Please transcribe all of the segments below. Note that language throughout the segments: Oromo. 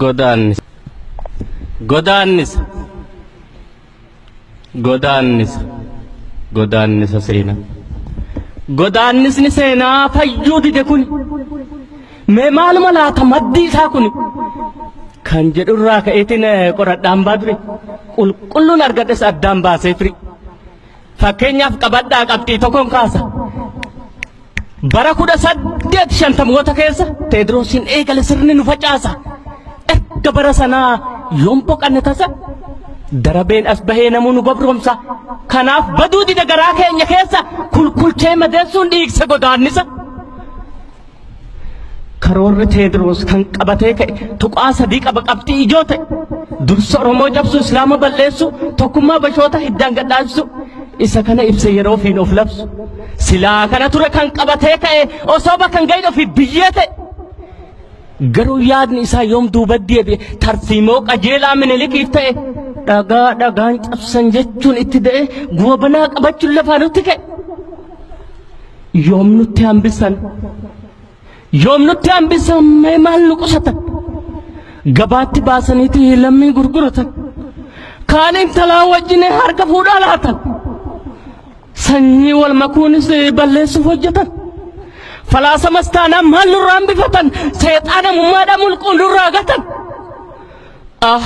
godaannisa godaannisa godaannisa godaannisa seenaa godaannisni seenaa fayyuu dide kun mee maaluma laata maddi isaa kun kan jedhurraa ka'eetiin qoradhaan baadure qulqulluun argadhes addaan baasee firi Fakkeenyaaf qabadhaa qabxii tokkon kaasa. Bara kudha saddeet shantamoota keessa Teediroosiin eegale sirni nu facaasa. Erga bara sanaa yoon boqanne tasa darabeen as bahee namuu nu gabroomsa. Kanaaf baduu dida garaa keenya keessa kulkulchee madeessuun dhiigsa godaannisa. Karoorri Teediroos kan qabatee ka'e tuqaa sadii qaba qabxii ijoo ta'e dursa Oromoo cabsu Islaama balleessu tokkummaa bashoota hiddaan gadhaansu isa kana ibsa yeroo ofiin of labsu silaa kana ture kan qabatee ka'e osoo bakka hin gahin ofiif biyyee ta'e garuu yaadni isaa yoom duuba deebi'e tarsiimoo qajeelaa minilikiif ta'e dhagaa dhagaan cabsan jechuun itti da'e goobanaa qabachuun lafaa nutti ka'e. yoom nutti hambissan yoom nutti hambissan mee maal nu qusatan gabaatti baasaniiti lammii gurguratan kaan intalaa wajjin harka fuudhaa laatan sanyii wal makuunis balleessuuf hojjetan falaasamas taanaan maal nurraa hambifatan seexaana mummaadhaa mulquu nurraa gatan Ah!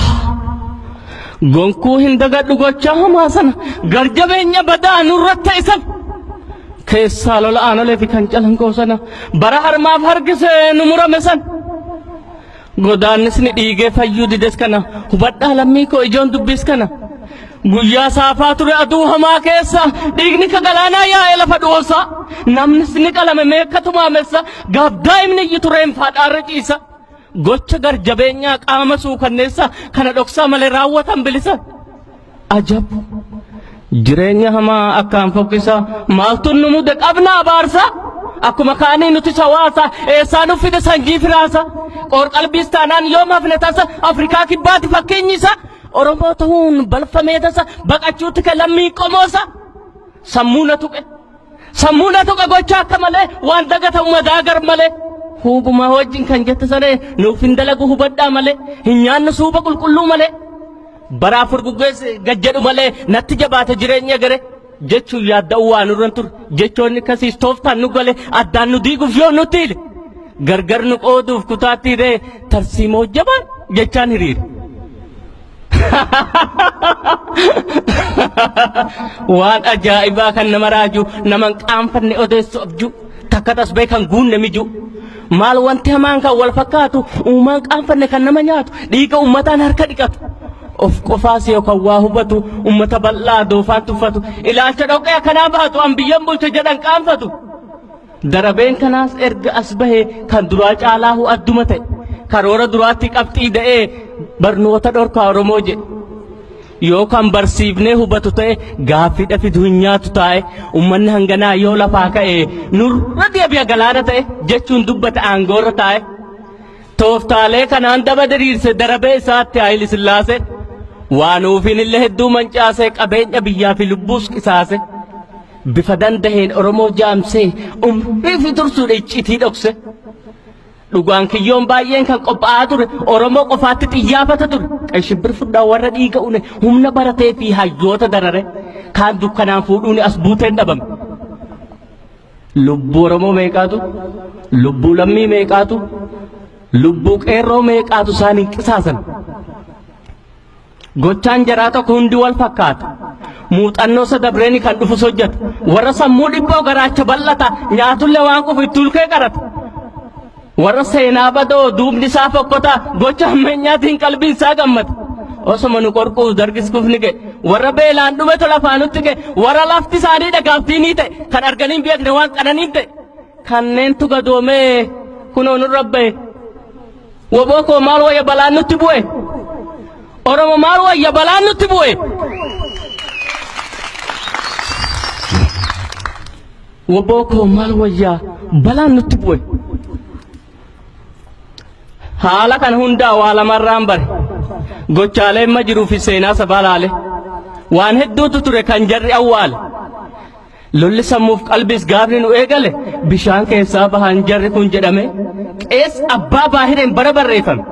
Gonkuu hin dagadhu gochaa hamaa sana gar jabeenya badaa nurra ta'e sana. Keessaa lola aanolee fi kan calanqoo sana bara harmaaf harkisee nu murame sana. Godaannis ni dhiigee fayyuu dides kana hubadhaa lammii koo ijoon dubbis kana. Guyyaa saafaa ture aduu hamaa keessa dhiigni ka galaanaa yaa'ee lafa dhoosa. Namnis ni qalame meeqa tumaamessa gaaf daa'imni iyyitu reenfaa dhaarra ciisa. Gocha garjabeenyaa qaama suukanneessaa kana dhoksaa malee raawwatan bilisa. Ajab! Jireenya hamaa akkaan fokkisaa maaltu nu mude qabna abaarsa? Akkuma kaanii nuti hawaasa eessaa nu fide sanjii firaasa? Qoorqalbiis taanaan yoom hafne tasa Afrikaa kibbaati fakkeenyi isa? Oromoo ta'uun balfamee tasa baqachuutti kan lammii qomoosa? Sammuu na tuqe. Sammuuna tuqa gocha akka malee waan dagatamu madaagar malee. Huubumaa wajjin kan jette saree nuuf hin dalagu hubadhaa malee hin nyaannu suuba qulqulluu malee. Bara afur guggees gad jedhu malee natti jabaate jireenya gare. Jechuun yaadda'uu waan irra hin ture jechoonni kasiis tooftaan nu gale addaan nu diiguuf yoo nutti hile. Gargar nu qooduuf kutaatti hiree tarsiimoo jabaan jechaan hiriire. waan ajaa'ibaa kan nama raaju naman qaanfanne odeessu abju takka tasbee kan guunne miju maal wanti hamaan kan wal fakkaatu uumaan qaanfanne kan nama nyaatu dhiiga ummataan harka dhiqatu of qofaas yoo kan waa hubatu ummata bal'aa doofaan tuffatu ilaalcha dhoqqee akkanaa baatu an biyyan bulcha jedhan qaanfatu Darabeen kanaas erga as bahe kan duraa caalaahu adduma ta'e. Karoora duraatti qabxii da'ee barnoota dhorkaa Oromoo jedhe. Yoo kan barsiifnee hubatu ta'e gaaffiidha fidu hin nyaatu taa'e uummanni hanganaa yoo lafaa ka'e nurra deebi'a galaana ta'e jechuun dubbata aangoorra taa'e. Tooftaalee kanaan daba diriirse darabee isaatti Haayile Sillaasee waan uufiin illee hedduu mancaasee qabeenya biyyaa fi lubbuus qisaase. Bifa dandaheen Oromoo jaamsee umrii fi tursuudha iccitii dhokse. Dhugaan kiyyoon baay'een kan qophaa'aa ture Oromoo qofaatti xiyyaafata ture. Qashibbir fudhaa warra dhiiga une humna baratee fi hayyoota darare kaan dukkanaan fuudhuun as buuteen dhabame. Lubbuu Oromoo meeqaatu? Lubbuu lammii meeqaatu? Lubbuu qeerroo meeqaatu isaan hin qisaasan? Gochaan jaraa tokko hundi wal fakkaata. Muuxannoo isa dabreeni kan dhufus hojjeta. Warra sammuu dhiphoo garaacha bal'ata nyaatullee waan qufu itti ulkee qarata. Warra seenaa badoo duubni isaa fokkota gocha ammeenyaatiin qalbiin isaa gammada. Osoma nu qorquus dargis kufni ga'e. Warra beelaan dhume tola afaanutti ga'e. Warra lafti isaanii dhagaaftii ni ta'e. Kan arganiin beekne waan qananiin ta'e. Kanneentu gadoomee kunoo nurra ba'e. Woboo koo maal wayya balaan nutti bu'e. Oromo maal wayya balaan nutti bu'e. Woboo koo maal wayya balaan nutti bu'e. Haala kana hundaa waa lamarraan bare. Gochaalee amma jiruu fi seenaa sabaa laale. Waan hedduutu ture kan jarri awwaale. Lolli sammuuf qalbiis gaafni nu eegale bishaan keessaa bahan jarri kun jedhame qees abbaa baahireen bara barreeffame.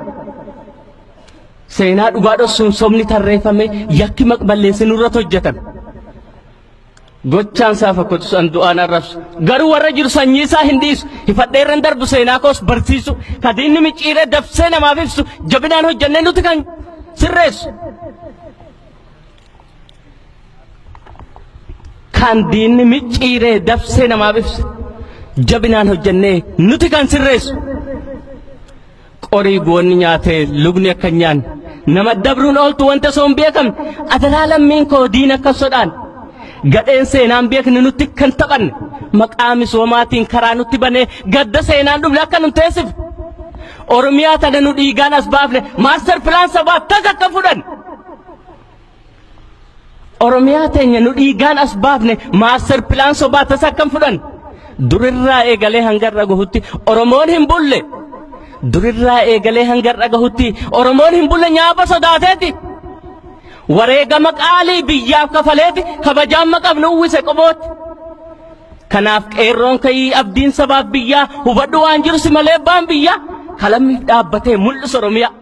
Seenaa dhugaa dhossuun sobni tarreeffame yakki maqballeessi nurratti hojjetame. Gochaan isaa fakkatu san du'aan arrabsu. Garuu warra jiru sanyii isaa hin dhiisu. Hifadheerran darbu seenaa koos barsiisu. Kadiinni micciiree dabsee namaaf ibsu. Jabinaan hojjennee nuti kan sirreessu. Kan diinni micciiree dabsee namaaf ibse jabinaan hojjennee nuti kan sirreessu qorii goonni nyaatee lugni akka hin nyaanne nama dabruun ooltu wanta osoo hin beekamne adaraa lammiin koo diina akka sodaan gadheen seenaan beekne nutti kan taphanne maqaa misoomaatiin karaa nutti banee gadda seenaan dhufne akka nu teessifne Oromiyaa tana nu dhiigaan as baafne maaster pilaan sabaa tas akka fudhanne Oromiyaa teenya nu dhiigaan as baafne maaster pilaan sobaa tasa akkam fudhan. Durirraa eegalee hanga irra gahutti Oromoon hin bulle. Durirraa eegalee hanga irra gahutti Oromoon hin bulle nyaapa sodaateeti. Wareegama qaalii biyyaaf kafaleeti kabajaan maqabnu uwwise qobooti. Kanaaf qeerroon ka'ii abdiin sabaaf biyyaa hubadhu waan jiru si malee abbaan biyyaa kalammiif dhaabbatee mul'isa Oromiyaa.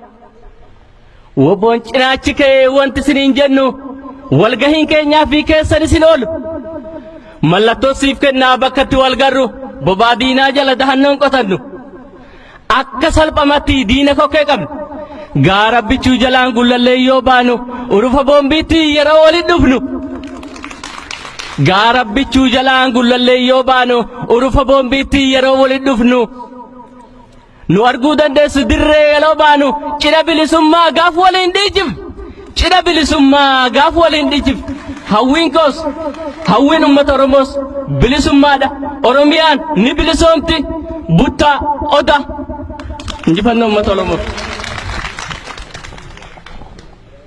Woboon cinaachi ka'ee wanti isiniin jennu walgahiin keenyaa fi keessan isin oolu. Mallattoo siif kennaa bakka itti wal garru bobaa diinaa jala dahannoon qotannu. Akka salphamatti diina kokkee qabnu. Gaara bichuu jalaan gullallee yoo baanu urufa boombiitti yeroo waliin dhufnu. Gaara bichuu jalaan gullallee yoo baanu urufa boombiitti yeroo waliin dhufnu. Nu arguu dandeessu dirree yeroo baanu cidha bilisummaa gaaf waliin dhiijif. Cidha bilisummaa gaaf waliin dhiijif. Hawwiin koos hawwiin uummata Oromoos bilisummaadha. Oromiyaan ni bilisoomti. Buttaa oda. Injifannoo uummata Oromoof.